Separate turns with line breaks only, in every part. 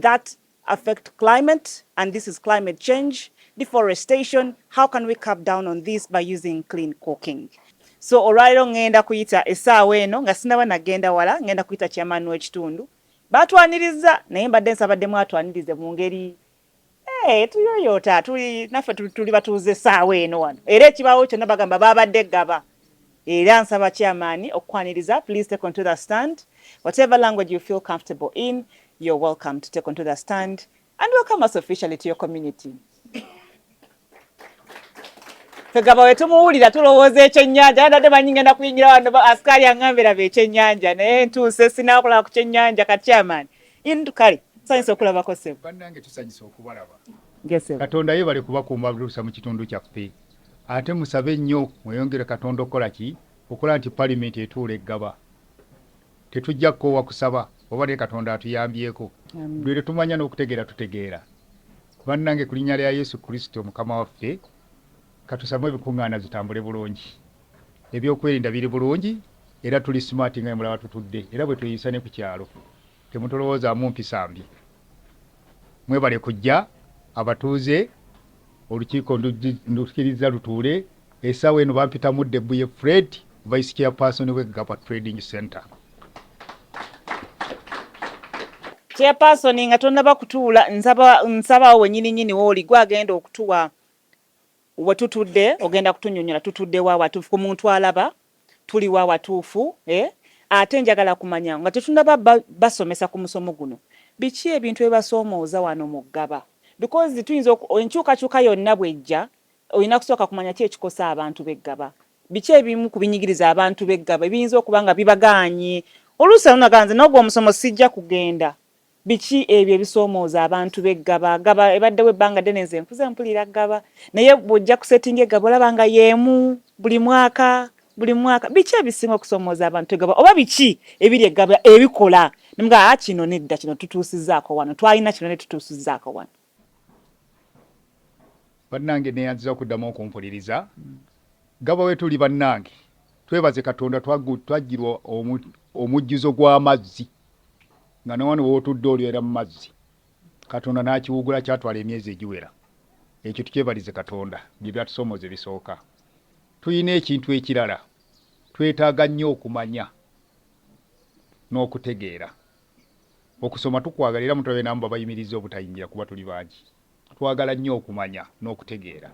that affect climate and this is climate change deforestation how can we cap down on this by using clean cooking so olwaliro ngenda kuyita esaawa eno nga sinaba nagenda wala ngenda kuyita chairman w'ekitundu batwaniriza naye mbadde nsabadde mwatwanirize mu ngeri Hey, tuyoyoota tuli naffe tuli batuuze essaawa eno wano era ekibaawo kyonna bagamba baabadde gaba era nsaba chairman okukwaniriza please take onto the stand whatever language you feel comfortable in you're welcome to take onto the stand and welcome us officially to your community fegaba wetumuwulira tulowooza ekyennyanja nadde manyi ngenda kuyingira wano asikaali angambira be ekyennyanja naye ntuuse sinakulaba ku kyennyanja ka chairman Indu kale tusanyuse okulabako ssebo. Bannange tusanyuse
okubalaba. Ngesebo. Katonda
yebale kubakuuma
blusa mu kitundu kyaffe ate musabe nnyo mweyongere Katonda okukola ki okola nti palimenti etuula eggaba tetujja kukoowa kusaba oba naye Katonda atuyambyeko buli lwetumanya n'okutegeera tutegeera bannange ku linnya lya Yesu Kristo mukama waffe katusamu ebikuŋŋaana zitambule bulungi. Ebyokwerinda biri bulungi era tuli smart nga bwemulaba tutudde era bwetweyisa ne ku kyalo. Temutulowoozamu mpisa mbi. Mwebale kujja abatuuze olukiiko ndukirizza lutuule. Essaawa eno bampita Mudde Bbuye Fred, Vice Chairperson we Ggaba Trading Centre. Chairperson
nga tonnaba kutuula nsaba nsaba awo wenyini nyini wooli gwe agenda okutuwa Wetutudde ogenda kutunyonyola tutudde wa watuufu ku muntu alaba tuli wa watuufu eh? Ate njagala kumanya nga tetunaba ba, basomesa ku musomo guno biki ebintu ebibasomooza wano mu Ggaba because tuyinza oku, enkyukakyuka yonna bwejja olina kusooka kumanya ki ekikosa abantu b'e Ggaba. Biki ebimu ku binyigiriza abantu b'e Ggaba ebiyinza okuba nga bibagaanye oluusi anonaga nze n'ogwo omusomo sijja kugenda. Biki ebyo ebisomooza abantu be Ggaba? Ggaba ebaddewo ebbanga ddene nze nkuze mpulira Ggaba naye bw'ojja ku settinga Eggaba olaba nga y'emu buli mwaka buli mwaka. Biki ebisinga okusomooza abantu Eggaba oba biki ebiri Eggaba ebikola ne mugamba ah kino nedda kino tutuusizzaako wano twalina kino ne tutuusizzaako wano.
bannange neyanziza okuddamu okumpuliriza gaba wetuli bannange twebaze katonda twajjirwa omujjuzo gw'amazzi nga newano wotudde olyera mu mazzi katonda n'akiwugula kyatwala emyezi egiwera ekyo tukyebalize katonda bye byatusomooza ebisooka tulina ekintu ekirala twetaaga nnyo okumanya n'okutegeera Okusoma tukwagala era mutulabe n'amu babayimirizza obutayingira kuba tuli bangi. Twagala nnyo okumanya n'okutegeera.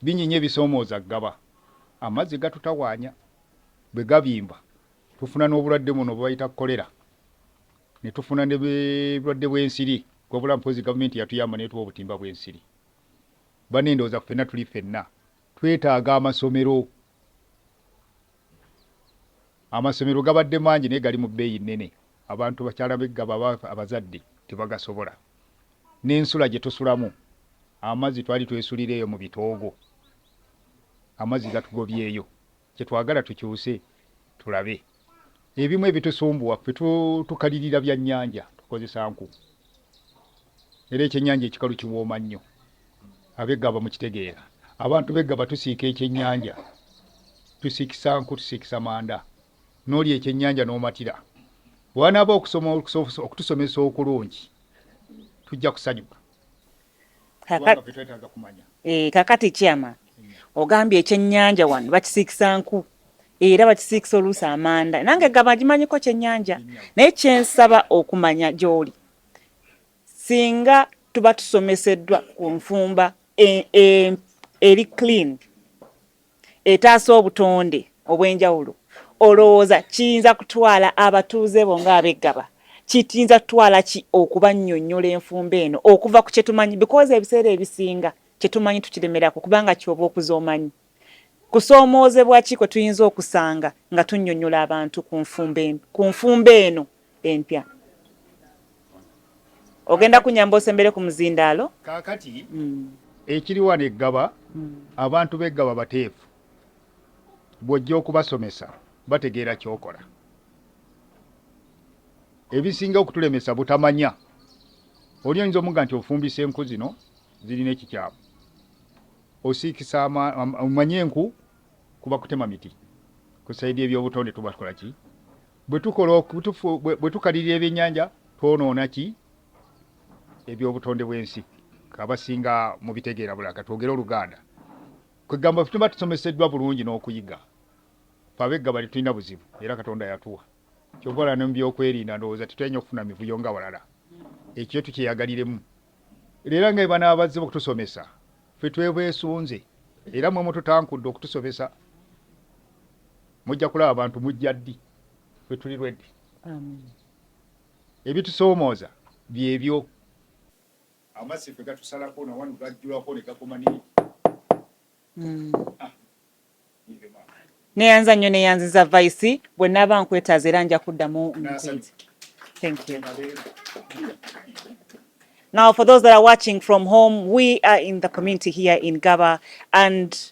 Bingi nnyo ebisoomooza Ggaba. Amazzi gatutawaanya. Bwe gabimba, tufuna n'obulwadde buno bwe bayita kkolera ne tufuna n'obulwadde bw'ensiri wabula mpozzi Gavumenti yatuyamba n'etuwa obutimba bw'ensiri. Banne ndowooza ffenna tuli ffenna twetaaga amasomero. Amasomero gabadde mangi naye gali mu bbeeyi nnene, abantu bakyala beggaba aba abazadde tebagasobola, n'ensula gye tusulamu amazzi twali twesulira eyo mu bitoogo, amazzi gatugobyeyo, kye twagala tukyuse tulabe. Ebimu ebitusumbuwa ffe tukalirira bya nnyanja tukozesa nku era ekyennyanja ekikalu kiwooma nnyo abeggaba mukitegeera abantu beggaba tusiika ekyennyanja tusiikisa nku tusiikisa manda n'olya ekyennyanja n'omatira bwanaaba okusoma okutusomesa okulungi tujja kusanyuka. eh, kakati kyama
ogambye ekyenyanja wano bakisiikisa nku era bakisiikisa oluusi amanda nange gaba gimanyiko kyenyanja naye kyensaba okumanya gyoli singa tuba tusomeseddwa ku nfumba e, e, eri clean etaasa obutonde obw'enjawulo olowooza kiyinza kutwala abatuuze bo ng'ab'e Ggaba kiyinza kutwala ki okubannyonnyola enfumba eno okuva ku kye tumanyi bikoozi ebiseera ebisinga kye tumanyi tukiremerako kubanga kyoba okuza omanyi kusoomoozebwa ki kwe tuyinza okusanga nga tunnyonnyola abantu ku nfumba eno. empya ogenda kunyamba osembere ku muzindaalo kaakati
mm. ekiri wano eggaba mm. abantu b'eggaba bateefu bw'ojja okubasomesa bategeera ky'okola ebisinga okutulemesa butamanya oli oyinza omuga nti ofumbisa enku zino zirina ekikyamu osiikisa omanye enku kuba kutema miti ku saidi ebyobutonde tubakola ki Bwe tukalirira ebyennyanja twonoona ki eby'obutonde bw'ensi? Abasinga mubitegeera bulala. Ka twogere Oluganda. Kwe kugamba ffe tuba tusomeseddwa bulungi n'okuyiga. Ffe Abeggaba tetulina buzibu era Katonda yatuwa. Ky'ova olaba ne mu byokwerinda ndowooza tetutera nnyo kufuna mivuyo nga balala. Ekyo kyo tukyeyagaliremu. Era nga bwe banaabazze okutusomesa, ffe twebeesunze era mwe mututankudde okutusomesa. Mujja kulaba bantu mujja ddi ffe tuli ready. Amen. Ebitusoomooza byebyo. Amazzi ffe gatusalako na wano gajjulako ne gakoma ne mm. ah.
Neyanza nnyo neyanziza Vice bwe naaba nkwetaaza era nja kuddamu nkwezi. Thank you. Now, for those that are watching from home, we are in the community here in Gaba, and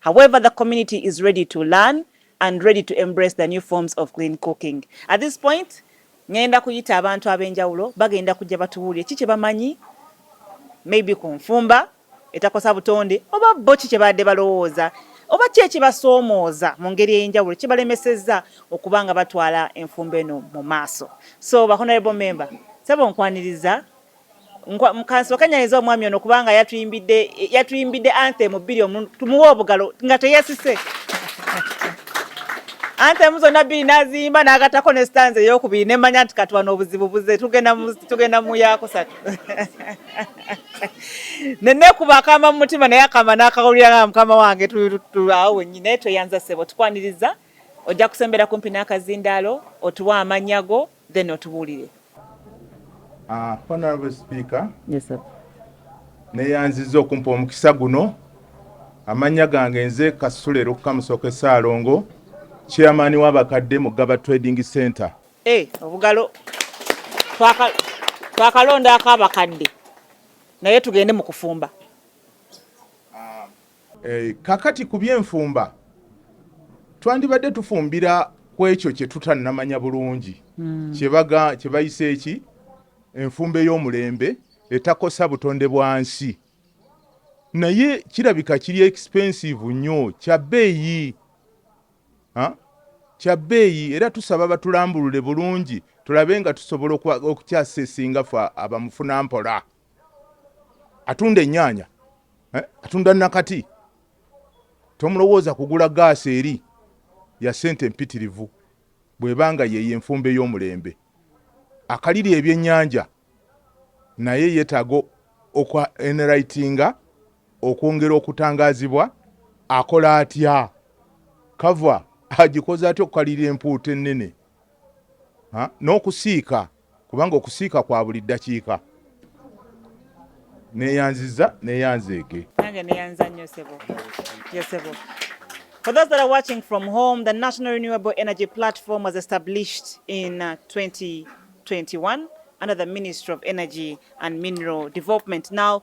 However, the community is ready to learn and ready to embrace the new forms of clean cooking. At this point, ngenda kuyita abantu ab'enjawulo bagenda kujja batubuulire ki kye bamanyi maybe ku nfumba etakosa butonde oba bo ki kye baadde balowooza oba ki ekibasoomooza mu ngeri ey'enjawulo kibalemesezza okuba nga batwala enfumba eno mu maaso so ba honorable member sebo nkwaniriza kansooke nyanyiza omwami ono kubanga yatuyimbidde yatuyimbidde anthem bbiri omu tumuwe obugalo nga teyasise anthem zonna bbiri n'aziyimba n'agattako ne stanza eyokubiri ne mmanya nti katuwa n'obuzibu buze tugenda mu yakusatu ne neekuba akama mu mutima naye akama n'akawulira nga mukama wange awo wennyini naye tweyanza ssebo tukwaniriza ojja kusembera kumpi n'akazindaalo otuwa amannya go then otubuulire. Uh,
honorable speaker yes, sir.
neyanziza
okumpa omukisa guno amannya gange nze kasule lukukamusoke saalongo chairman w'abakadde mu gaba trading center hey, eh, obugalo
twakalondaako abakadde naye tugende mu kufumba
Kaakati, ku by'enfumba, twandibadde tufumbira ku ekyo kye tutannamanya bulungi, kye bayise ki, enfumba ey'omulembe, etakosa butonde bwa nsi. Naye kirabika kiri ekipensiivu nnyo, kya bbeeyi, ha, kya bbeeyi. Era tusaba batulambulule bulungi tulabe nga tusobola okukyasesinga ffe abamufunampola. atunda ennyaanya eh, atunda nakati tomulowooza kugula gaasi eri ya ssente empitirivu bwebanga yeyo enfumba ey'omulembe akaliri ebyennyanja naye yetaaga okwa enritinga okwongera okutangazibwa akola atya kava agikoze atya okukalira empuuta ennene n'okusiika no kubanga okusiika kwa buli ddakiika. Neeyanzizza, neeyanzeege. Nange neeyanza
nnyo ssebo. Yes, ssebo. For those that are watching from home, the National Renewable Energy Platform was established in 2021 uh, under the Ministry of Energy and Mineral Development. Now,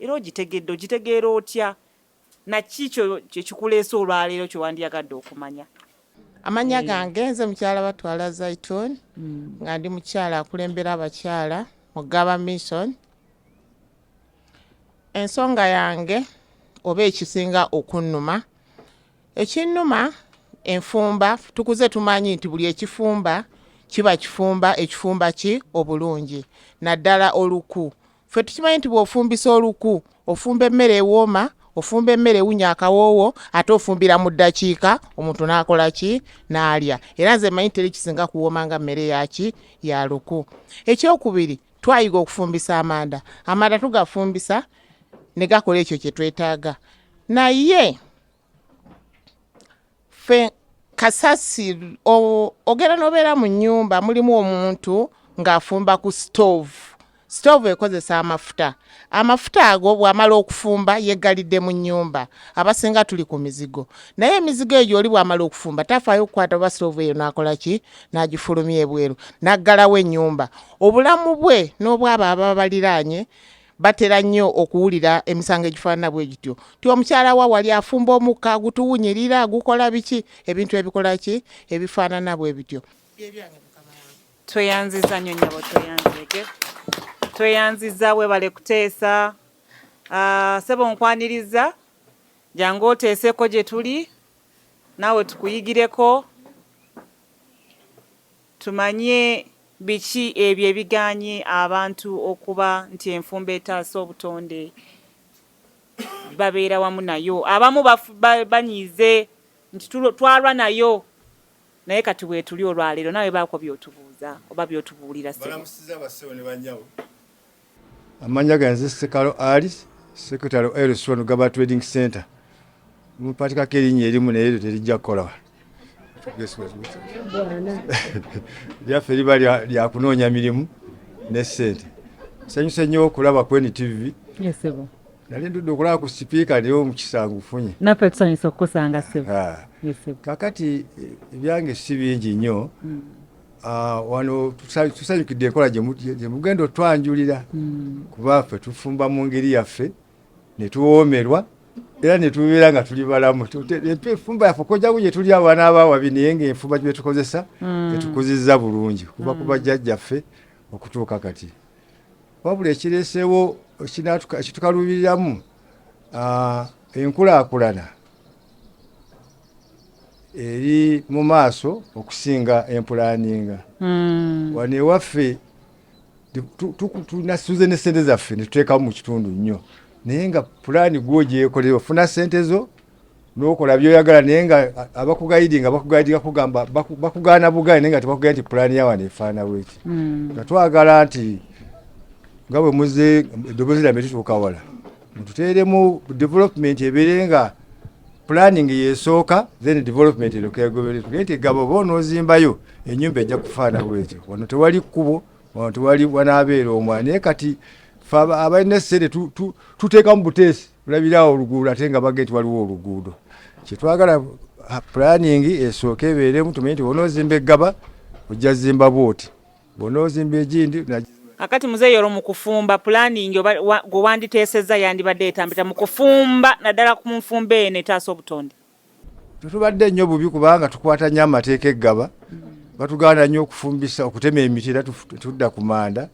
Era ogitegedde, ogitegeera otya? Naki kyo kyekikuleese olwaleero kyewandiyagadde okumanya? Amanya eh.
gange nze mukyala batwala Zaitun mm. nga ndi mukyala akulembera abakyala mu Gaba Mission. Ensonga yange oba ekisinga okunnuma, ekinnuma enfumba tukuze tumanyi nti buli ekifumba kiba kifumba ekifumba ki obulungi naddala oluku Ffe tukimanyi nti bw'ofumbisa oluku ofumba emmere ewooma ofumba emmere ewunya akawoowo ate ofumbira mu ddakiika omuntu n'akola ki n'alya era nze manyi teri kisinga kuwooma nga mmere yaki ya luku ekyokubiri twayiga okufumbisa amanda amanda tugafumbisa ne gakola ekyo kye twetaaga naye ffe kasasi ogenda nobeera mu nyumba mulimu omuntu ng'afumba ku stove stove ekozesa amafuta amafuta ago bwamala okufumba yegalidde mu nyumba abasinga tuli ku mizigo naye emizigo egyo oli bwamala okufumba tafaayo okukwata oba stove eyo nakola ki nagifulumya ebweru naggalawo enyumba obulamu bwe n'obwabo ababa baliraanye batera nnyo okuwulira emisango egifaanana bwe gityo ti omukyala wa wali afumba omukka gutuwunyirira gukola biki ebintu ebikola ki ebifaanana bwe bityo tweyanziza
nnyo nyabo tweyanzege tweyanziza webale kuteesa ah, sebo nkwaniriza jangu oteeseko gye tuli naawe tukuyigireko Tumanye biki ebyo ebigaanye abantu okuba nti enfumba etaasa obutonde babeera wamu nayo. Abamu banyiize nti twalwa nayo naye kati weetuli olwaleero naawe baako by'otubuuza oba by'otubuulira ssebo. Balamusizza bassebo ne bannyabo.
Amannya gange nze Ssekalo Ali, Secretary wa Elson Gaba Trading Center. Mumpatikako erinnya erimu naye eryo terijja kukola wano. Lyaffe liba lya kunoonya mirimu ne ssente. Nsanyuse nnyo okulaba ku NTV.
Nali ndudde okulaba
ku sipiika naye omukisa ngufunye. Naffe tusanyuse okukusanga
ssebo. Kakati
ebyange si bingi nnyo. Mm. Ah, wano tusanyukidde enkola gyemugenda otwanjulira hmm. kuba ffe tufumba mu ngeri yaffe netuwoomerwa era netubeera nga tuli balamu efumba yaffe okojako gyetuli abaana abawabi naye nga enfumba gyetukozesa hmm. etukuzizza bulungi kuba hmm. kuba jjajjaffe okutuuka kati wabula ekireeseewo ekitukalubiriramu ah, enkulaakulana eri mu maaso okusinga empulaninga hmm. wano ewaffe tunasuze ne sente zaffe netuteekawo mu kitundu nnyo naye nga pulaani gwogyekolera ofuna sente zo nokola byoyagala naye nga abakugayidinga bakugayidinga kugamba bakugaana bugayi naye nga tebakugaya nti pulaani yawano efaana bweki hmm. nga twagala nti nga bwe muze eddoboozi lyambe tutuuka wala mututeeremu development ebeere nga planning yesooka then development erokegoberetugee nti gaba oba onoozimbayo enyumba ejja kufaana bwetyo wano tewali kkubo wano tewali wanaabeera omwa naye kati fe abalina essere tuteekamu buteesi olabiraawo oluguudo ate nga bage nti waliwo oluguudo kyetwagala planning esooka ebeeremu tumanyi nti onoozimba eggaba ojja zimba bwoti bw'onoozimba egindi Kakati muzeeyi
olwo mu kufumba pulaningi oba gwe wanditeesezza yandibadde etambita mu kufumba naddala ku nfumba eno etaasa obutonde?
Tetubadde nnyo bubi kubanga tukwata nnyo amateeka eggaba batugaana nnyo okufumbisa okutema emiti era tudda ku manda.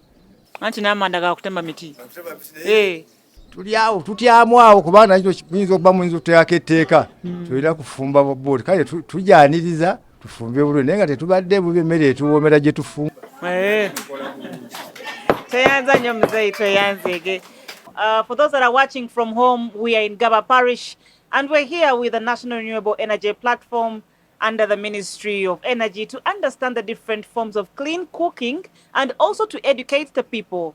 Anti n'amanda
ga kutema miti. Eh.
tuli awo tutyamu awo kuba nakyo kiyinza okuba muyinza okuteekako etteeka hmm. tulina kufumba bobuli kale tujyaniriza tufumbe bulungi naye nga tetubadde bubi emmere etuwoomera gye tufumba eh.
tweyanza nyo muzeyi tweyanzege uh, for those that are watching from home we are in gaba parish and we're here with the national renewable energy platform under the Ministry of Energy to understand the different forms of clean cooking and also to educate the people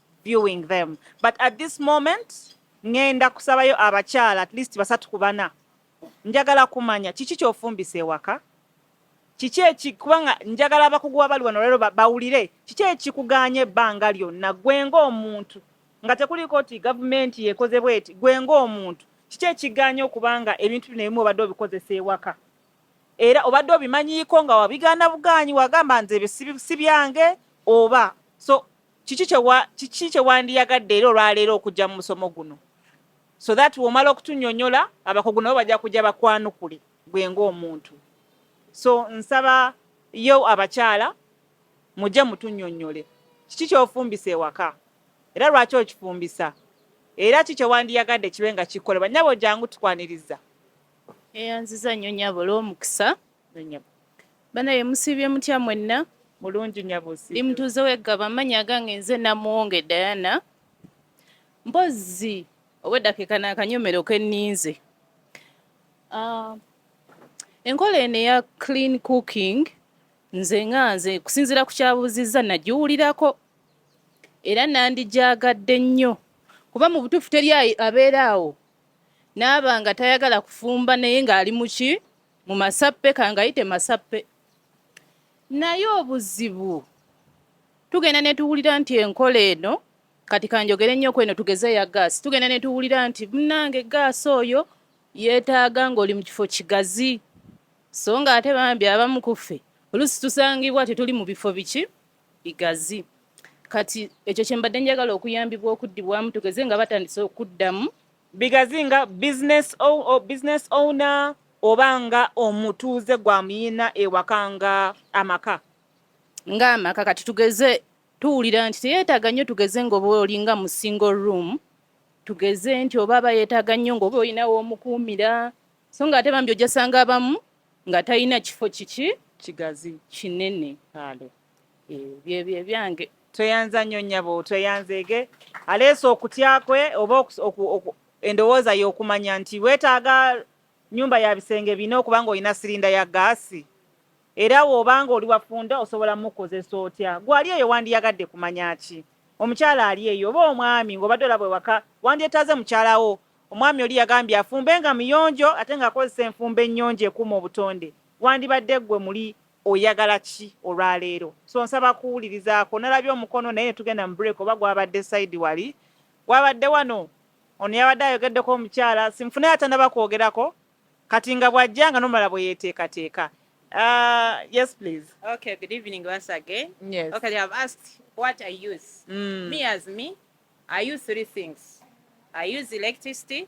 viewing them but at this moment ngenda kusabayo abakyala at least basatu ku bana njagala kumanya kiki kyofumbisa ewaka kiki eki kubanga njagala abakugu wabali wano lero bawulire kiki ekikuganye ebbanga lyonna gwe ng'omuntu nga tekuliiko nti gavumenti yekoze bweti gwe ng'omuntu kiki ekiganye okubanga ebintu bino ebimu obadde obikozesa ewaka era obadde obimanyiiko nga wabigaana bugaanyi wagamba nze ebyo si byange oba so kiki kiki kye wandiyagadde era olwaleero okujja mu musomo guno so that womala okutunyonyola abakugu nabo bajja kujja bakwanukule gwe ng'omuntu so nsaba yo abakyala mujje mutunyonyole kiki kyofumbisa ewaka era lwaki okifumbisa era ki kyewandiyagadde kibe nga kikolebwa nyabo jangu tukwaniriza
eyanziza nnyo nyabo olw'omukisa banaye musiibye mutya mwenna mulungi nyabo
ndi mutuuze weggaba
amannya agange nze namuwonge diana mpozi obweddakiika naakanyomero kenninze ah, enkola eno eya clean cooking nze nga nze kusinziira ku kyabuuzizza nagiwulirako era nandijaagadde nnyo kuba mu butuufu teri abeera awo naaba nga tayagala kufumba naye ng'ali muki mu masappe kangayite masappe naye obuzibu tugenda netuwulira nti enkola eno kati kanjogere nnyo kweno tugeze ya gaasi tugenda netuwulira nti munange gaasi oyo yeetaaga ng'oli mu kifo kigazi so nga ate bambi abamu kuffe oluusi tusangibwa tetuli mu bifo biki bigazi kati ekyo kyembadde njagala okuyambibwa okuddibwamu tugeze nga batandise okuddamu bigazi nga
business, o, o, business owner oba nga omutuuze gwa muyina ewaka nga amaka nga
amaka kati tugeze tuwulira nti teyeetaaga nnyo tugeze ngaoba olinga mu single room tugeze nti oba aba yeetaaga nnyo ngaoba olinawo omukuumira so nga ate bambi ojasanga abamu nga talina kifo kiki kigazi
kinene
Kale. Eh, bye bye byange tweyanza nnyo nyabo
tweyanzeege aleese okutya kwe oba endowooza y'okumanya nti weetaaga nyumba ya bisenge bina okuba nga olina sirinda ya gaasi era woba nga oli wafunda osobola mukozesa otya gwali eyo wandiyagadde kumanya ki omukyala ali eyo oba omwami ng'obadde olaba ewaka wandyetaaze mukyalawo omwami oli yagambye afumbe nga muyonjo ate ng'akozesa enfumba ennyonjo ekuuma obutonde wandibadde ggwe muli oyagala ki olwaleero so nsaba kuwulirizaako nalabye omukono naye netugenda mu break oba gwabadde side wali gwabadde wano ono yabadde ayogeddeko omukyala simufune atanaba kwogerako kati nga bwajja nga nomala bweyeteekateeka Uh, yes, please. Okay, good evening
once again. Yes. Okay, they have asked what I use. Mm. Me as me, I use three things. I use electricity,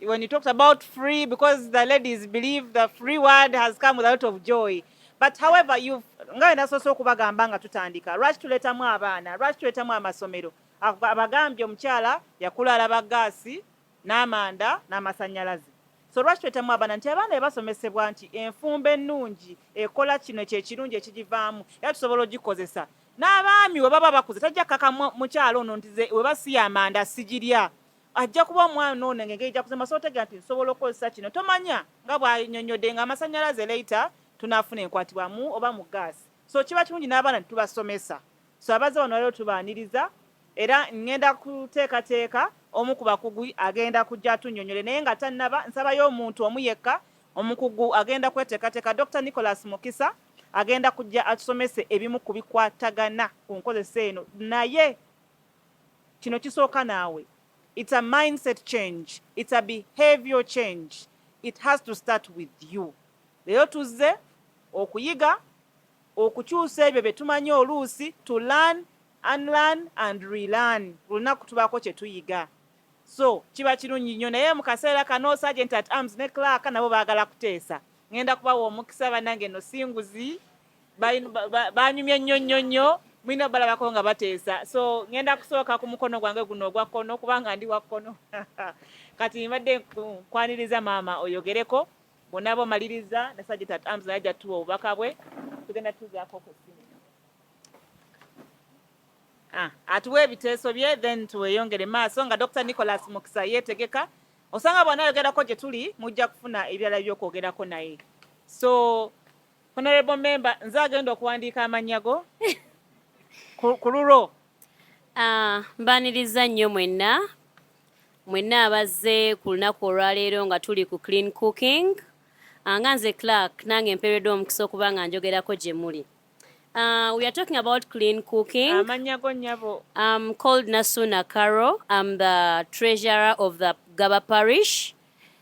When you talked about free, because the ladies believe the free word has come with a lot of joy. But however, you've nga nasoose okubagamba nga tutandika lwaki tuletamu abaana lwaki tuletamu amasomero abagambye omukyala yakula alaba gaasi n'amanda n'amasannyalaze so lwaki tuletamu abaana nti abaana bebasomesebwa nti enfumba ennungi ekola kino kyekirungi ekigivaamu era tusobola ogikozesa n'abaami we baba bakuze tajja kaka mukyala ono nti webasiya amanda sigirya ajja kuba omwana ono engeri gyakusemba so otegera nti nsobola okukozesa kino tomanya nga bwanyonyodde nga amasanyalaze later tunafuna enkwatibwamu oba mu gaasi so kiba kirungi n'abaana tubasomesa so abaze wano waliro tubaaniriza era ngenda kuteekateeka omu ku bakugu agenda kujja atunyonyole naye nga tannaba nsabayo omuntu omu yekka omukugu agenda kweteekateeka dr nicholas mukisa agenda kujja atusomese ebimu ku bikwatagana ku nkozesa eno naye Kino kisooka naawe. It's a mindset change. It's a behavior change. It has to start with you. Leero tuzze okuyiga okukyusa ebyo bye tumanyi oluusi to learn, unlearn and relearn. Olunaku tubaako kye tuyiga. So kiba kirungi nnyo naye mu kaseera kano Sergeant at Arms ne Clark nabo baagala kuteesa. Ngenda kubawa omukisa banange no singuzi. banyumye nnyo nnyo nnyo mulina balabako nga bateesa so ngenda kusooka ku mukono gwange guno ogwa kkono kubanga ndi wa kkono kati mbadde nkwaniriza maama oyogereko bonna bomaliriza nasajja tat arms naye ajja tuwa obubaka bwe tugenda tuzaako ku ssimu ah, atuwa ebiteeso bye then tuweyongere maaso nga dr nicholas mukisa yeetegeka osanga bwanayogerako gye tuli mujja kufuna ebirala by'okwogerako naye so Honorable member nze agenda okuwandiika amannya go ku lulwo. Ah, mbaniriza
nnyo mwenna mwenna abazze ku lunaku olwaleero nga tuli ku clean cooking ah, nga nze clark nange mpeereddwa omukisa okuba nga njogerako gye muli Uh, we are talking about clean cooking. I'm
um, called
Nasuna Karo. I'm the treasurer of the Gaba Parish.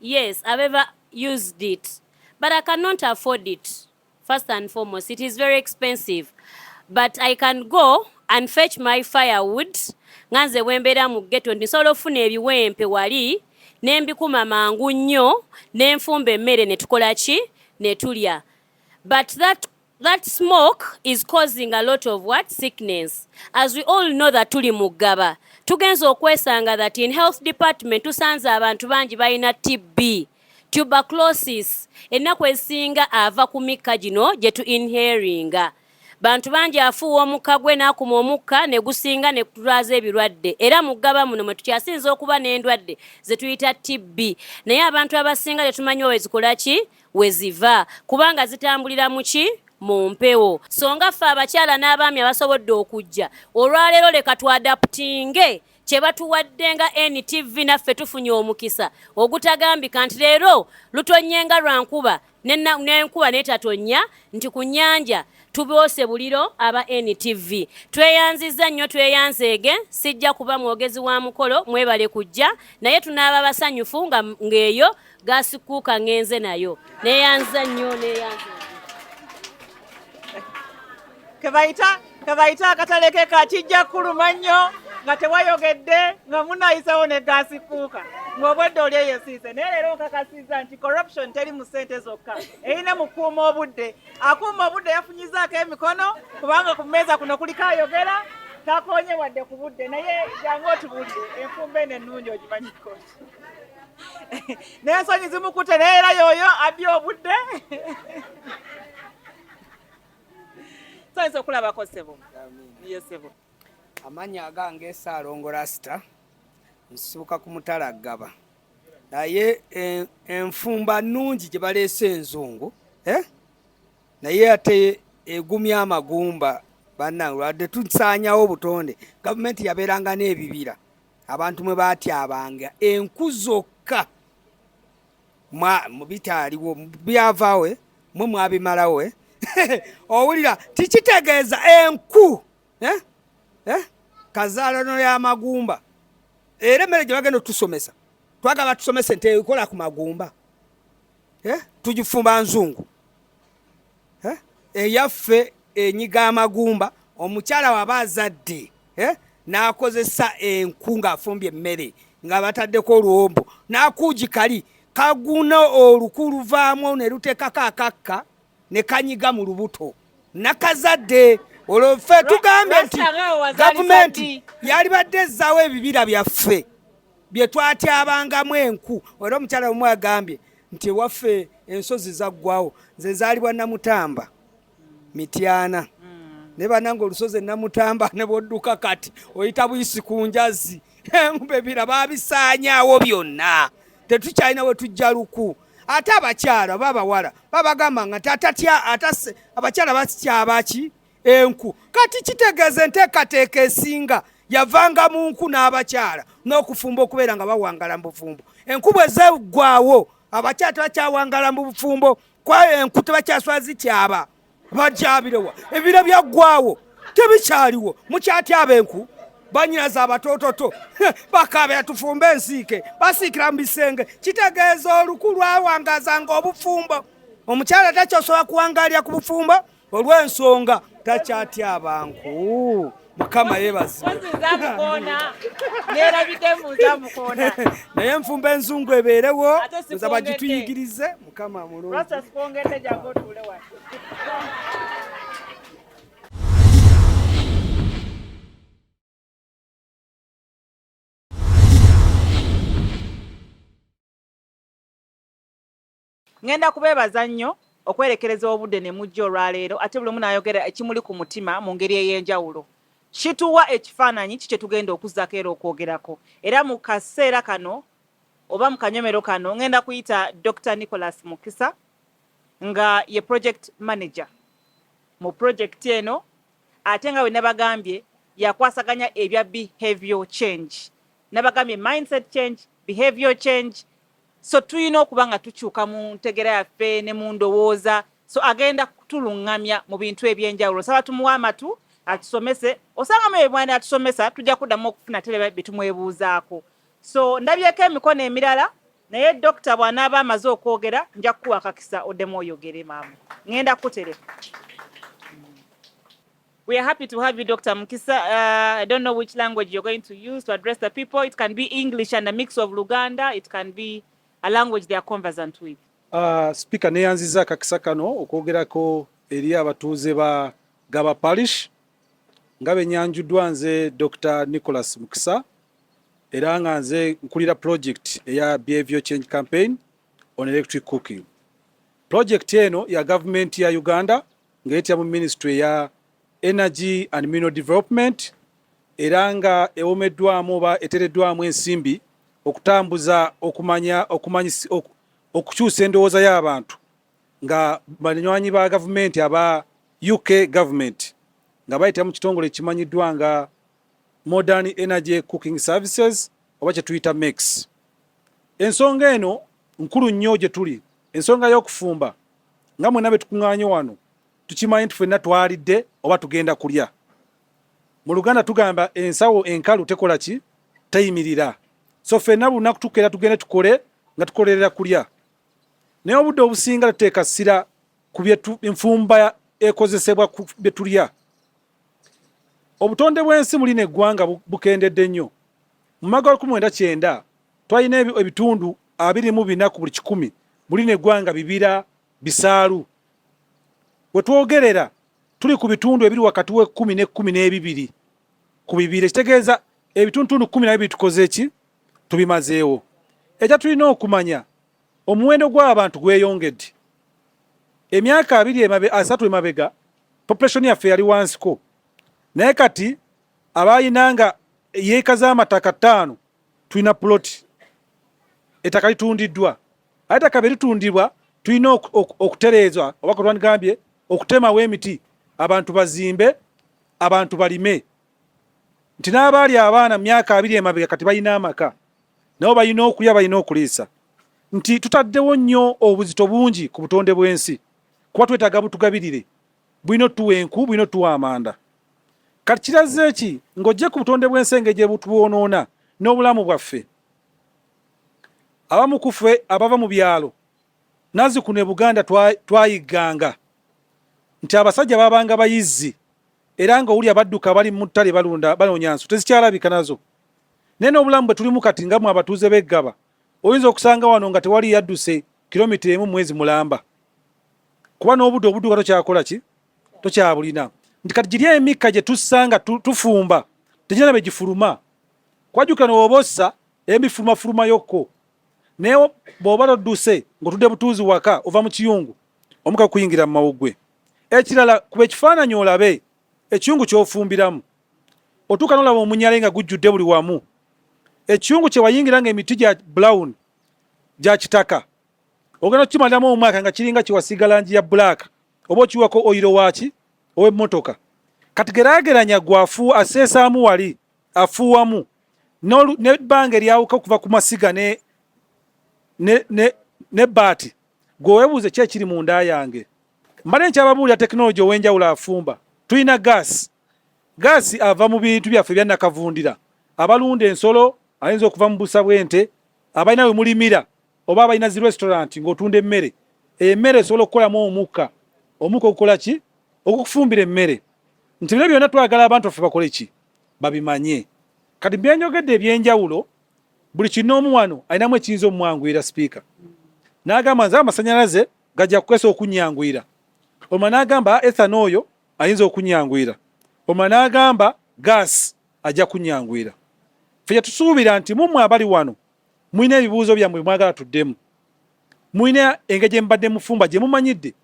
Yes, I've ever used it, but I cannot afford it. First and foremost, it is very expensive, but I can go and fetch my firewood nga nze bwembeera mu ghetto nti nsobola okufuna ebiwempe wali ne mbikuma mangu nnyo ne nfumba emmere ne tukola ki ne tulya but that That smoke is causing a lot of what sickness as we all know that tuli mugaba tugenza okwesanga that in health department tusanze abantu bangi balina TB tuberculosis ennaku ezisinga ava ku mikka gino gye tu inheringa bantu bangi afuuwa omukka gwe n'akuma omukka ne gusinga ne kutulwaza ebirwadde era mu ggaba muno mwe tukyasinza okuba n'endwadde ze tuyita tibbi naye abantu abasinga tetumanyi owe zikola ki we ziva kubanga zitambulira mu ki mu mpewo songa ffe abakyala n'abaami abasobodde okujja olwaleero leka twadaputinge kye batuwadde nga NTV naffe tufunye omukisa ogutagambika nti leero lutonye nga lwa nkuba n'enkuba n'etatonya nti ku nnyanja tuboose buliro aba NTV tweyanzizza nnyo tweyanzeege sijja kuba mwogezi wa mukolo mwebale kujja naye tunaaba basanyufu ng'eyo nga gasikuuka ngenze nayo neyanza nnyo neyanza
kebayita kebayita akatale ke kakijja kuluma nnyo nga tewayogedde nga munayisawo ne gasikuuka ng'obwedde oli eyo esiise naye leero nkakasiza nti corruption teri mu ssente zokka erina mu kuuma obudde akuuma obudde yafunyizaako emikono kubanga ku mmeeza kuno kuliko ayogera takonye wadde ku budde naye jangu otubulire enfumba eno ennungi ogimanyikoti n'ensonyi zimukute naye era yooyo abye obudde sonyiza okulabako sebo ye sebo amannya
agange saalongo rasita nsibuka ku mutala gaba naye eh, enfumba nnungi gye baleese enzungu eh? naye ate egumya amagumba banange lwadde tusaanyawo obutonde gavumenti yabeeranga n'ebibira abantu mwe baatyabanga enku zokka bitaaliwo byavaawe mwe mwabimalawo eh? owulira tikitegeeza enku eh? Eh? kazaalano y'amagumba era emmere gye bagenda otusomesa twagala tusomese nti ekola ku magumba tugifumba nzungu eh? eyaffe enyiga amagumba omukyala waba azadde eh? n'akozesa enku ng'afumbye emmere nga bataddeko oluwombo n'akuugi kali kaguna oluku luvaamu ne luteekako akakka ne kanyiga mu lubuto nakazadde olwo ffe tugambye nti gavumenti yalibadde ezzaawo ebibira byaffe bye twatyabangamu enku era omukyala omu agambye nti ewaffe ensozi zaggwawo nze nzaalibwa namutamba mityana hmm. naye banange olusozi enamutamba ne bwodduka kati oyita buyisi ku njazi bebira babisaanyaawo byonna tetukyalina we tujja luku ate abakyala oba abawala babagamba nga abakyala batyabaki enku kati kitegeeza enteekateeka esinga yavanga mu nku n'abakyala n'okufumba okubeera nga bawangala mu bufumbo enku bwe zeggwawo abakyala tebakyawangala mu bufumbo kwayo enku tebakyaswa zikyaba bakyabirewa ebiro byaggwawo tebikyaliwo mukyatyaba enku banyinaza abatoototo bakaabera tufumbe ensiike basiikira mu bisenge kitegeeza oluku lwawangazanga obufumbo omukyala takyosobola kuwangalira ku bufumbo olw'ensonga takyatyaabanku mukama yebazibwe naye nfumba enzungu ebeerewo nza bagituyigirize mukama mulungi
Ngenda kubeebaza nnyo okwerekereza obudde ne mujja olwaleero ate buli omu n'ayogera ekimuli ku mutima mu ngeri ey'enjawulo. Kituwa ekifaananyi ki kye tugenda okuzzako era okwogerako. Era mu kaseera kano oba mu kanyomero kano ngenda kuyita Dokita Nicholas Mukisa nga ye Project Manager mu pulojekiti eno ate nga bwe nabagambye yakwasaganya ebya behavior change. Nabagambye mindset change, behavior change, so tuyina okuba nga tukyuka mu ntegera yaffe ne mu ndowooza so agenda kutulungamya mu bintu ebyenjawulo saba tumuwa amatu atusomese osanga mu ebwana atusomesa tujja kuddamu okufuna tebe bitumwebuuzaako so ndabyeko emikono emirala naye dokita bwanaaba amaze okwogera nja kukuwa akakisa oddemu oyogere maama ngenda kukutereka We are happy to have you, Dr. Mukisa. Uh, I don't know which language you're going to use to address the people. It can be English and a mix of Luganda. It can be a language they are conversant with. Uh, speaker
neyanziza kakisa kano okwogerako eri abatuuze ba Gaba Parish nga benyanjuddwa nze Dr. Nicholas Mukisa era nga nze nkulira project eya Behavior Change Campaign on Electric Cooking. Project eno ya government ya Uganda ng'etya mu minisitule ya energy and mineral development era nga ewomeddwamu oba etereddwamu ensimbi okutambuza okumanya okumanyi okukyusa endowooza y'abantu nga banywanyi ba gavumenti aba uk government nga bayita mu kitongole ekimanyiddwa nga modern energy cooking services oba kyetuyita mex ensonga eno nkulu nnyo gye tuli ensonga y'okufumba nga mwena betukuŋanye wano tukimanyi nti fenna twalidde oba tugenda kulya mu luganda tugamba ensawo enkalu tekola ki teyimirira so fenna bulunaku tukeera tugende tukole nga tukolerera kulya naye obudde obusinga tuteeka ssira ku byetu enfumba ekozesebwa ku byetulya obutonde bw'ensi muli neggwanga bukendedde nnyo mu mwaka wa lukumi mwenda kyenda twalina ebitundu abiri mu bina ku buli kikumi muli neggwanga bibira bisaalu wetwogerera tuli ku bitundu ebiri wakati w'ekkumi n'ekkumi n'ebibiri ku bibiri ekitegeeza ebitundutundu kkumi nabyo bitukoze ki tubimazeewo ekya tulina okumanya Omuwendo gw'abantu gweyongedde. Emyaka abiri emabe, asatu emabega population yaffe yali wansiko, naye kati abalina nga yeeka z'amataka ttaano tulina puloti ettaka litundiddwa, aye ettaka bye litundibwa tulina okutereeza oba kutwandigambye okutemawo emiti abantu bazimbe, abantu balime. nti n'abaali abaana mu myaka abiri emabega kati balina amaka nabo balina okulya balina okuliisa nti tutaddewo nnyo obuzito bungi ku butonde bw'ensi kuba twetaaga butugabirire bulina otuwa enku bulina otuwa amanda kati kirazze ki ng'ojje ku butonde bw'ensi engeri gye butubwonoona n'obulamu bwaffe abamu ku ffe abava mu byalo nazzikuno e buganda twayigganga nti abasajja babanga bayizzi era nga owulira badduka bali mu ttale balunda banoonya nsu tezikyalabika nazo naye n'obulamu bwe tulimu kati nga mwe abatuuze b'eggaba oyinza okusanga wano nga tewali yadduse kilomita emu mwezi mulamba kuba n'obudde obudduka tokyakola ki tokyabulina nti kati giri emikka gye tussanga tufumba tegirina be gifuluma kwajukira newooba ossa emifulumafuluma yokko naye bw'oba todduse ng'otudde butuuzi waka ova mu kiyungu omuka kuyingira mu mawuggwe Ekirala kuba ekifaananyi olabe ekiyungu ky'ofumbiramu. Otuuka n'olaba omunyale nga gujjudde buli wamu. Ekiyungu kye wayingira nga emiti gya brown gya kitaka ogenda okukimalamu omwaka nga kiringa kye wasiiga langi ya bbulaaka oba okiwako oyiro waaki ow'emmotoka. Kati geraageranya gwe afuuwa aseesaamu wali afuuwamu n'ebbanga eryawuka okuva ku masiga ne ne ne n'ebbaati. Gwe webuuze ki ekiri mu nda yange. Mbadde nkyababuulira tekinologi ow'enjawulo afumba. Tulina gaasi. Gaasi ava mu bintu byaffe ebya nakavundira. Abalunda ensolo ayinza okuva mu busa bw'ente, abalina we mulimira oba abalina zi restaurant ng'otunda emmere. Emmere esobola okukolamu omukka. Omukka ogukola ki? Ogukufumbira emmere. Nti bino byonna twagala abantu baffe bakole ki? Babimanye. Kati byenjogedde eby'enjawulo buli kinoomu wano alinamu ekiyinza omumwanguyira sipiika n'agamba nze amasanyalaze gajja kukwesa okunyanguyira omala n'agamba ah, ethano oyo ayinza okunyanguyira omala n'agamba gaasi ajja kunyanguyira fe kyetusuubira nti mumwe abali wano mulina ebibuuzo byammwe mwagala tuddemu mulina engeri gye mubadde mufumba gye mumanyidde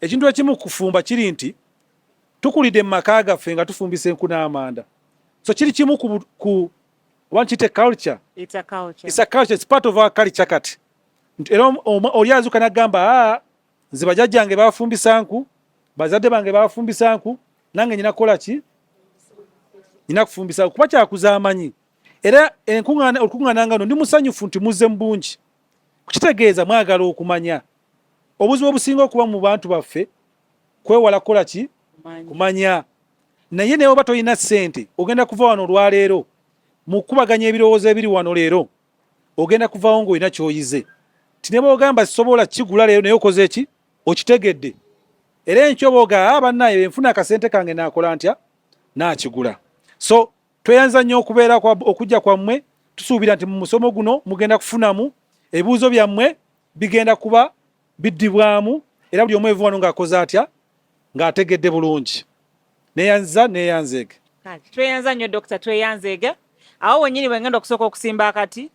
ekintu ekimu kufumba kiri nti tukulidde mu maka gaffe nga tufumbisa enku n'amanda so kiri kimu ku want it a culture it's a culture it's a
culture it's part of our
culture kati era oli azuka nagamba ah nze bajajjange bafumbisa nku bazadde bange bafumbisa nku nange nyina kola ki nyina kufumbisa kuba kyakuza amanyi era enkuŋŋaana olukuŋŋaana nga no ndi musanyufu nti muzze mu bungi kukitegeeza mwagala okumanya obuzibu obusinga okuba mu bantu baffe kwewala kukola ki kumanya naye naye oba tolina ssente ogenda kuva wano olwaleero mukubaganya ebirowoozo ebiri wano leero ogenda kuvawo ngaolina kyoyize ti ne bwogamba sisobola kigula leero naye okoze ki okitegedde era enkyo oba ogaa ah, bannaye enfuna akasente kange nakola ntya nakigula so tweyanza nnyo okubeera okujja kwammwe tusuubira nti mu musomo guno mugenda kufunamu ebibuuzo byammwe bigenda kuba biddibwamu era buli omu evuwano ng'akoze atya ng'ategedde bulungi neyanza neyanzeege tweyanza
nnyo dokita tweyanzeege awo wenyini wengenda okusooka okusimba akati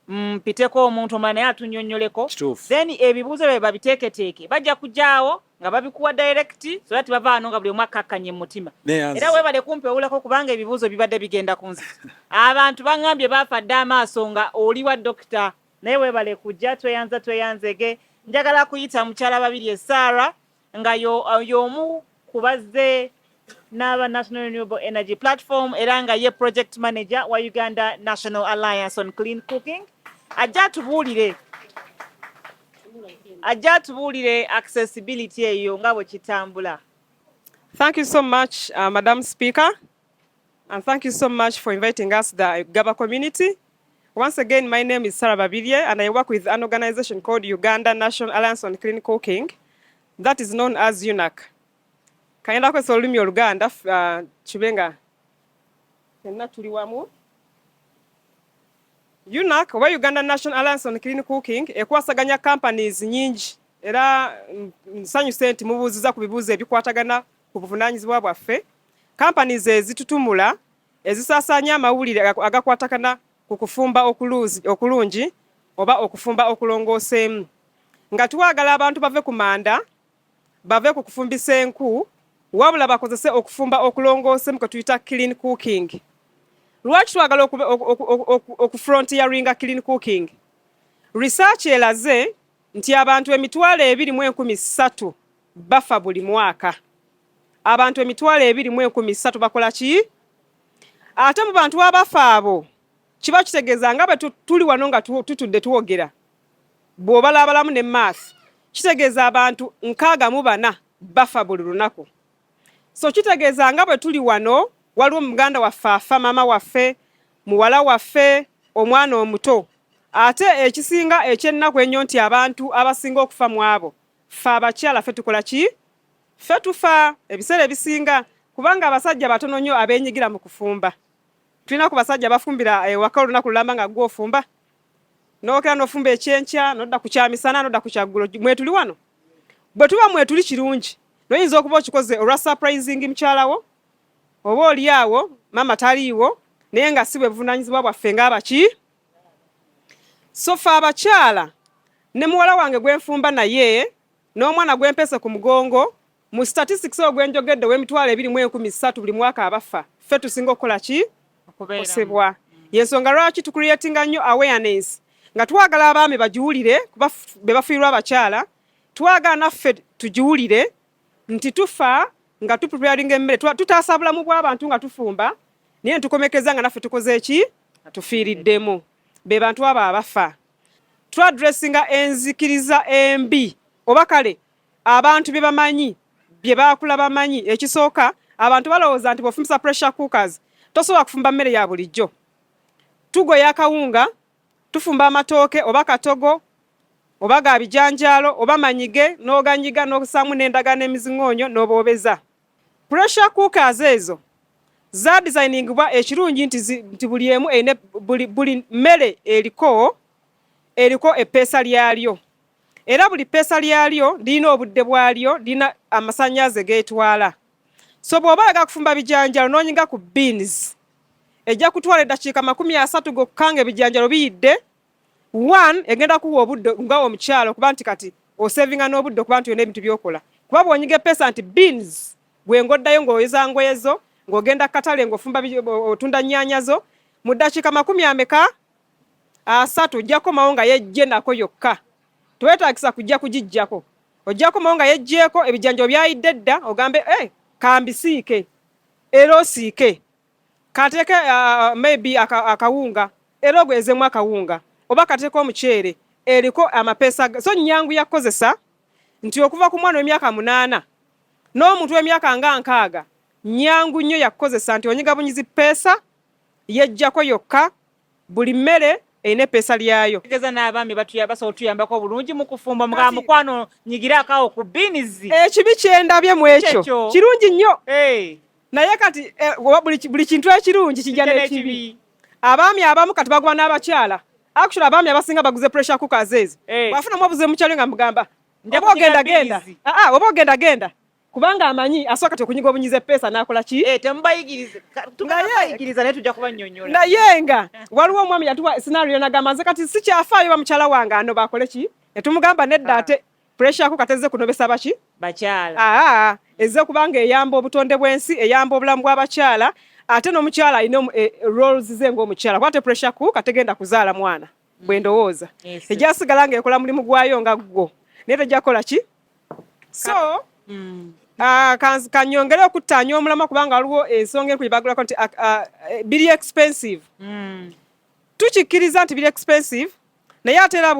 mpiteko mm, omuntu omala naye atunyonyoleko then ebibuuzo byabe babiteeketeeke bajja kujaawo nga babikuwa direct so that bava ano nga buli omu akkakkanye mu mutima era webale kumpi owulako kubanga ebibuuzo bibadde bigenda ku nzi abantu baŋambye baafa dda amaaso nga oliwa dokita Naye webale kujja tweyanza tweyanzege. Njagala kuyita mukyala Babirye Sarah nga y'omu ku bazze n'aba National Renewable Energy Platform era nga ye project manager wa Uganda National Alliance on Clean Cooking ajja atubuulire ajja atubuulire accessibility eyo nga bwe kitambula. Thank
you so much, uh, Madam Speaker. And thank you so much for inviting us the Gaba community. Once again, my name is Sarah Babirye and I work with an organization called Uganda National Alliance on Clean Cooking that is known as UNAC. Kayenda kwesa olulimi oluganda uh, kibenga fenna tuli wamu UNAC oba Uganda National Alliance on Clean Cooking ekwasaganya companies nyingi era nsanyuse nti mubuuziza ku bibuuzo ebikwatagana ku buvunaanyizibwa bwaffe kampani ze zitutumula ezisaasaanya amawulire agakwatakana ku kufumba okulungi oba okufumba okulongooseemu nga twagala abantu bave ku manda bave ku kufumbisa enku wabula bakozese okufumba okulongooseemu kwe tuyita clean cooking lwaki twagala okufrontiyaringa clean cooking research elaze nti abantu emitwalo ebiri mu enkumi ssatu bafa buli mwaka. Abantu emitwalo ebiri mu enkumi ssatu bakola ki? Ate mu bantu abafa abo kiba kitegeeza nga bwe tuli wano nga tutudde twogera, bw'obalabalamu ne maaso kitegeeza abantu nkaaga mu bana bafa buli lunaku. so kitegeeza nga bwe tuli wano waliwo muganda waffe afa maama waffe muwala waffe omwana omuto ate ekisinga ekyennaku ennyo nti abantu abasinga okufa mu abo fe abakyala fe tukola ki fe tufa ebiseera ebisinga kubanga abasajja batono nnyo abeenyigira mu kufumba tulina ku basajja bafumbira ewaka eh, olunaku lulamba nga gwe ofumba nokera nofumba ekyenkya nodda ku kyamisana nodda ku kyaggulo mwetuli wano bwe tuba mwetuli kirungi noyinza okuba okikoze olwa surprising mukyalawo oba oli awo maama taliiwo naye nga si bwe buvunaanyizibwa bwaffe ng'abaki sofa abakyala ne muwala wange gwenfumba naye n'omwana gwempese ku mugongo Mu statistics oyo gwe njogedde ow'emitwalo ebiri mu enkumi ssatu buli mwaka abafa, ffe tusinga okukola ki? Okukosebwa. Y'ensonga lwaki tucreatinga nnyo awareness nga twagala abaami bagiwulire kuba be bafiirwa abakyala, twagala naffe tugiwulire nti tufa nga tupreparinga emmere, tutaasa bulamu bw'abantu nga tufumba, naye netukomekeza nga naffe tukoze ki? Tufiiriddemu. Be bantu abo abafa. Twadressinga enzikiriza embi oba kale abantu bye bamanyi bye baakula bamanyi ekisooka abantu balowooza nti bw'ofumbisa pressure cookers tosobola kufumba mmere ya bulijjo tugoya akawunga tufumba amatooke oba katogo oba ga bijanjaalo oba manyige n'oganyiga n'osaamu n'endagala n'emizingoonyo n'oboobeza pressure cookers ezo za designingibwa ekirungi nti nti buli emu eine buli mmere eriko eriko eppeesa lyalyo era buli pesa lyalyo lirina obudde bwalyo lirina amasanyaze getwala so bwoba oyaga kufumba bijanjalo nonyiga ku beans ejja kutwala eddakiika makumi asatu gokka nga ebijanjalo biyidde one egenda kuwa obudde nga omukyalo kuba nti kati osevinga n'obudde okuba nti olina ebintu byokola kuba bwonyiga epesa nti beans bwengoddayo ngaoyoza ngoyezo ng'ogenda katale ng'ofumba otunda nnyaanya zo mu ddakiika makumi ameka asatu ojja kukomawo nga yejje nako yokka tewetagisa kujja kugijjako ojja kukomawo nga yejjeeko ebijanjo byayidde dda ogambe e eh, kambisiike era osiike kateeke uh, uh, maybe akawunga era ogwezemu akawunga oba kateeka omuceere eriko amapeesa so nyangu yakukozesa nti okuva ku mwana w'emyaka munaana n'omuntu w'emyaka nga nkaaga nyangu nnyo yakukozesa nti onyigabunyizi peesa yejjako yokka buli mmere erina epeesa lyayo tegeza n'abaami
basobola otuyambako obulungi mu kufumba mga mukwano nyigire akawo ku biinizi ekibi kyendabye
mu ekyo kirungi nnyo naye kati eh, buli kintu ekirungi kijja n'ekibi abaami abamu kati baguba n'abakyala actually abaami abasinga baguze pressure cookers ezo bwafunamu obuze mukyalo nga mugamba oba ogenda genda ah, ah, oba ogenda genda kubanga amanyi asoka kati okunyiga obunyize pesa nakola ki eh temubayigirize tubayigiriza
naye tujja kubanyonyola naye nga
waliwo omwami yatuwa scenario nagamba nze kati sikyafaayo bamukyala wange ano bakole ki netumugamba nedda ah. ate pressure ko kateze kunobesa baki bakyala aa ah, ah,
eze kubanga
eyamba obutonde bwensi eyamba obulamu bw'abakyala ate n'omukyala alina eh, roles ze ng'omukyala kwate pressure ku kategenda kuzaala mwana bwe ndowooza ejja kusigala ng'ekola mulimu gwayo nga ggwo naye tejja kukola ki so mm. ah, kanyongere okuttaanya omulama kubanga waliwo ensonga enkulu bagulako nti ah, ah, eh, biri expensive mm. tukikkiriza nti biri expensive naye ate era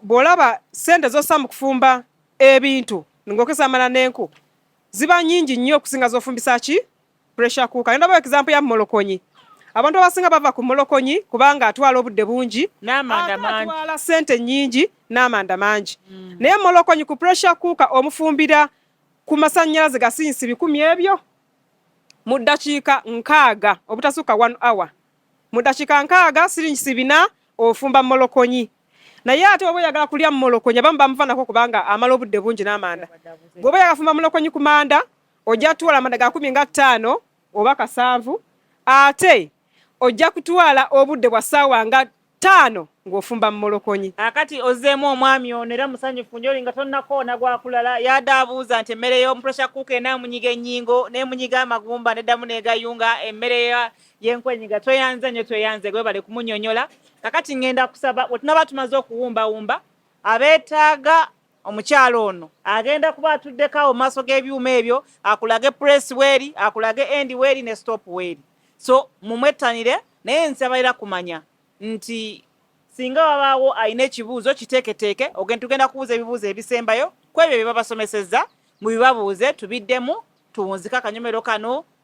bw'olaba sente z'ossa mu kufumba ebintu ng'okesamala n'enku ziba nyingi nnyo okusinga z'ofumbisa ki pressure cooker nenda ba example ya molokonyi abantu abasinga bava ku molokonyi kubanga atwala obudde bungi atwala sente nyingi n'amanda mangi mm. naye molokonyi ku pressure cooker omufumbira ku masannyalaze gasinsi bikumi ebyo mu ddakiika nkaaga obutasukka one hour mu ddakiika nkaaga siringisi bina ofumba molokonyi naye ate oba oyagala kulya molokonyi abamu bamuvanako kubanga amala obudde bungi n'amanda bw'oba yagafumba molokonyi ku manda ojja kutwala amanda ga kumi nga ttaano oba kasanvu ate ojja kutwala obudde bwa ssaawa nga ttaano ng'ofumba mu molokonyi akati ozzeemu
omwami ono era musanyufu nyo olinga tonnakoona gwakulala yada abuuza nti emmere y'omupressure cook enaamunyiga ennyingo neemunyiga amagumba neddamu neegayunga emmere yenkwenyiga tweyanze nyo tweyanze gwebale kumunyonyola kakati ngenda kusaba wetunaba tumaze okuwumbawumba abeetaaga omukyala ono agenda kuba atuddeko awo maaso g'ebyuma ebyo akulage press weeri akulage end weeri ne stop weeri so mumwettanire naye nsabalira kumanya nti singa wabaawo alina ekibuuzo kiteeketeeke ogenda tugenda kubuuza ebibuuzo ebisembayo ku ebyo bye babasomesezza mubibabuuze tubiddemu tuwunzike akanyomero kano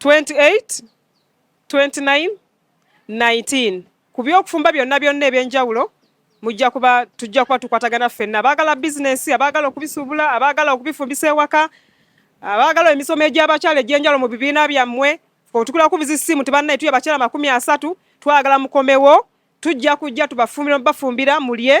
28 29 19 ku byokufumba byonna byonna ebyenjawulo mujja kuba tujja kuba tukwatagana ffenna abaagala bizinensi abaagala okubisuubula abaagala okubifumbisa ewaka abaagala emisomo egy'abakyala egy'enjawulo mu bibiina byammwe otukula kubiza essimu tibannaye tuya bakyala makumi asatu twagala mukomewo tujja kujja tubafumbira bafumbira mulye